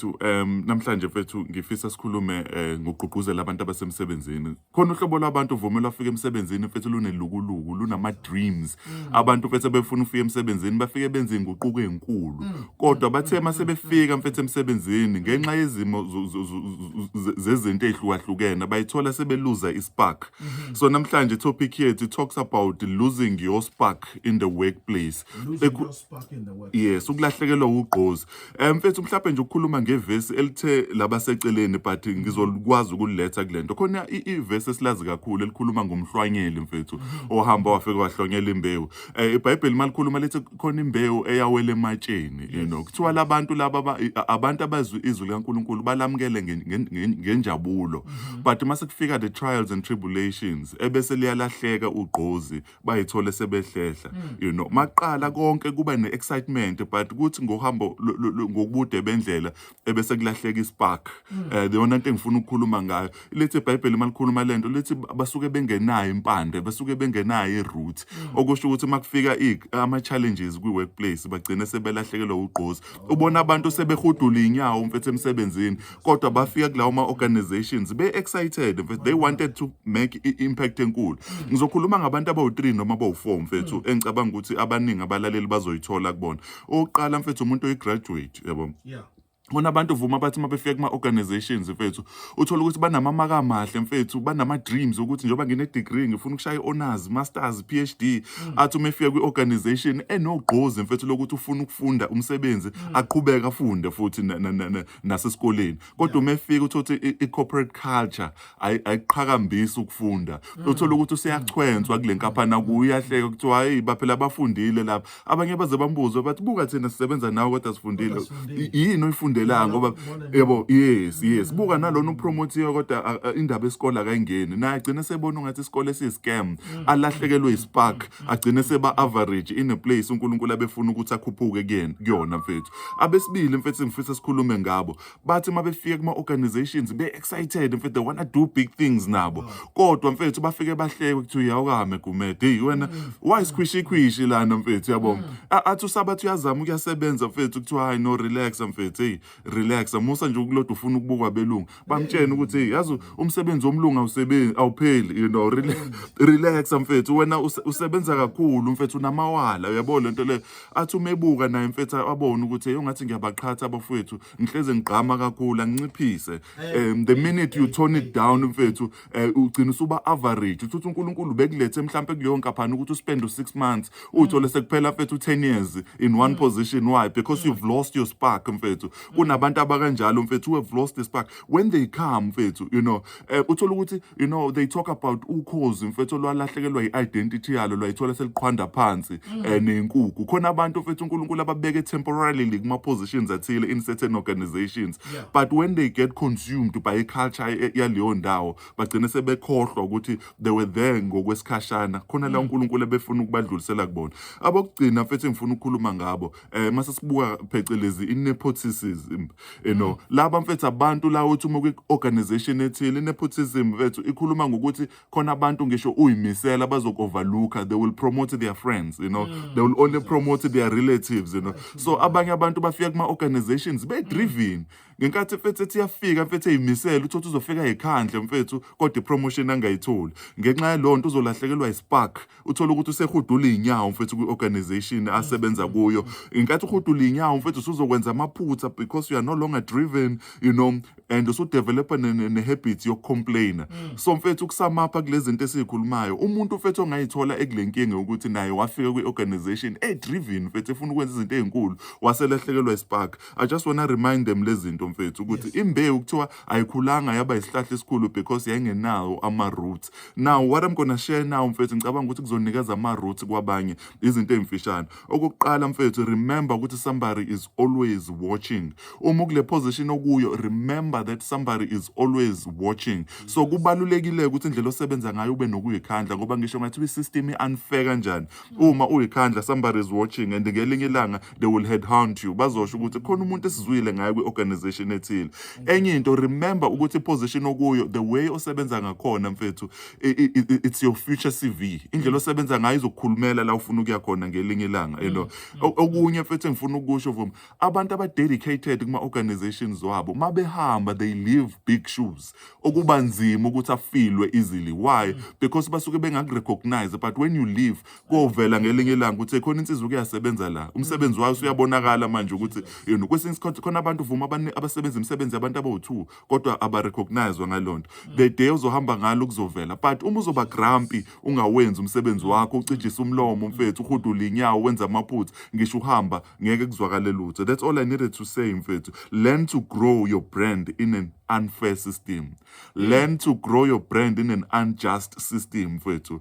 mfethu um namhlanje mfethu ngifisa sikhulume um ngokugqugquzela abantu abasemsebenzini khona uhlobo lwabantu uvumela afika emsebenzini mfethu lunelukuluku lunama-dreams mm. abantu mfethu abefuna ufika emsebenzini bafike benze inguquko enkulu mm. kodwa mm. bathe uma sebefika mfethu emsebenzini ngenxa yezimo zezinto ey'hlukahlukene bayithola sebeluza ispark mm-hmm. so namhlanje itopic yethu talks about losing your spark in the workplace yes ukulahlekelwa wugqozi Eh, mfethu mhlawumbe nje ukukhuluma ngevesi elithe labaseceleni but ngizokwazi ukuliletha kule nto khona i- ivesi esilazi kakhulu elikhuluma ngomhlwanyeli mfethu ohamba wafike wahlwanyela imbewu um ibhayibheli uma likhuluma lithi khona imbewu eyawela ematsheni you know kuthiwa labantu laba aba- i- a- abantu abazwi izwi likankulunkulu balamukele ngen- ngen- ngen- ngenjabulo but uma sekufika the trials and tribulations ebese liyalahleka ugqozi bayithole sebehlehla mm. you know maqala konke kuba ne excitement but kuthi ngohambo ngokubude bendlela ebese kulahleka ispark mm. eh the only thing ngifuna ukukhuluma ngayo lithi iBhayibheli malikhuluma lento lithi basuke bengenayo impande basuke bengenayo iroot mm. okusho ukuthi makufika ama challenges kwi workplace bagcine sebelahlekelwa ugqozi ubona abantu sebehudula inyawo umfethu emsebenzini kodwa bafika kulawo ma-organizations be-excited mfethu they wanted to make i-impact enkulu ngizokhuluma ngabantu abawu-three noma abawu-four mfethu hmm. engicabanga ukuthi abaningi abalaleli bazoyithola kubona owokuqala mfethu umuntu oyi-graduate yabo yeah. Khona abantu vuma bathi uma befika kuma-organizations mfethu uthole ukuthi banamamaka amahle mfethu banama-dreams ukuthi njengoba ngine-degree ngifuna ukushaya i-honors masters p h d mm. athi uma efika kwi-organization enogqozi mfethu lokuthi ufuna ukufunda umsebenzi mm. aqhubeke afunde futhi nasesikoleni kodwa uma efika uthola ukuthi i-corporate culture ayiqhakambisi ukufunda mm. uthola ukuthi useyachwenswa kule nkampani akuyo uyahleka kuthiwa hayi baphela abafundile lapha abanye baze bambuze bathi buka thina sisebenza nawe kodwa sifundile yini oyifundelayo ngoba yebo yes yes mm. buka nalona upromotiwe kodwa indaba yesikole akayingeni naye agcine sebona ungathi isikole esiyi-scam mm. alahlekelwe ispark agcine seba-average in a place unkulunkulu abefuna ukuthi akhuphuke kuyona mfethu abesibili mfethu ngifisa sikhulume ngabo bathi uma befika kuma organizations be excited mfethu they wanna do big things nabo oh. kodwa mfethu bafike bahleke ukuthi uyawukame gumede hey wena mm. why squishy quishy lana mfethu yabo mm. athi usabathi uyazama ukuyasebenza mfethu kuthiwa hayi no relax mfethu hey relax musa nje ukulodwa ufuna ukubukwa belungu bamtshene ukuthi yazi umsebenzi womlungu awusebenzi awupheli you know relax mfethu wena usebenza kakhulu mfethu unamawala uyabo lento le athi umebuka naye mfethu abone ukuthi yongathi ngiyabaqhatha abafowethu ngihleze ngigqama kakhulu anginciphise um the minute you tone it down mfethu eh, ugcina usuba average uthi uNkulunkulu bekulethe mhlambe kuleyo nkaphani ukuthi uspend u 6 months uthole sekuphela mfethu 10 years in one position why because you've lost your spark mfethu kunabantu abakanjalo mfethu who have lost the spark when they come mfethu you know eh, uthola ukuthi you know they talk about ukhozi mfethu lwalahlekelwa i-identity yalo lwayithola seliqhwanda phansi eh, nenkukhu khona abantu mfethu uNkulunkulu ababeke temporarily kuma positions athile in certain organizations yeah. but when they get consumed by iculture e, e, yaleyo ndawo bagcine sebekhohlwa ukuthi they were there ngokwesikhashana khona la mm. uNkulunkulu ebefuna ukubadlulisela kubona abokugcina mfethu engifuna ukukhuluma ngabo eh mase sibuka phecelezi inepotism you know mm. laba mfethu abantu la uthi uma kwi-organization ethile inepotism mfethu ikhuluma ngokuthi khona abantu ngisho uyimisela bazokovaluka they will promote their friends you know mm. they will only promote their relatives you know so abanye abantu bafika kuma organizations be driven ngenkathi mfethu ethi yafika mfethu eyimisela uthothi uzofika ekhandle mfethu kodwa ipromotion angayitholi ngenxa yalonto uzolahlekelwa ispark uthole ukuthi usehudula iy'nyawo mfethu kwi-organization asebenza kuyo ngenkathi uhudula iy'nyawo mfethu usuzokwenza amaphutha because you are no longer driven you know and usudevelopa ne-habit yokucomplaina mm. so mfethu ukusamapha kule zinto esiyikhulumayo umuntu mfethu ongayithola ekule nkinga ukuthi naye wafika kwi-organization e-driven mfethu efuna ukwenza izinto ey'nkulu waselahlekelwa ispark i just wanna remind them lezi zinto mfethu ukuthi imbewu kuthiwa ayikhulanga yaba isihlahla esikhulu because yayingenawo ama-roots now what i'm gonna share now mfethu ngicabanga ukuthi kuzonikeza ama-roots kwabanye izinto ey'mfishane okokuqala mfethu remember ukuthi somebody is always watching uma ukule position okuyo remember that somebody is always watching so kubalulekile ukuthi indlela osebenza ngayo ube nokuyikhandla ngoba ngisho ngathi i-system i-unfair kanjani uma uyikhandla somebody is watching and ngelinye ilanga they will headhunt you bazosho ukuthi khona umuntu esizwile ngayo kwi-organization ethile enye into remember ukuthi iposition okuyo the way osebenza ngakhona mfethu it's your future cv indlela osebenza ngayo izokukhulumela la ufuna ukuya khona ngelinye ilanga you know mm, mm. okunye mfethu engifuna ukusho vuma abantu abadedicated kuma-organizations wabo uma behamba they leave big shoes okuba nzima ukuthi afilwe easily why mm. because basuke bengakurecognize but when you leave kovela ngelinye ilanga ukuthi khona insizwa kuyasebenza la umsebenzi wayo usuyabonakala manje ukuthi you know kwesinye isikhathi khona abantu vuma abasebenza imisebenzi yabantu abawu-two kodwa abarecognizwa ngaloo nto the day uzohamba ngalo kuzovela but uma uzoba grampi ungawenzi umsebenzi wakho ucijise umlomo mfethu uhudule inyawo wenza amaphutha ngisho uhamba ngeke kuzwakale lutho that's all i needed to say mfethu learn to grow your brand in an unfair system learn to grow your brand in an unjust system mfethu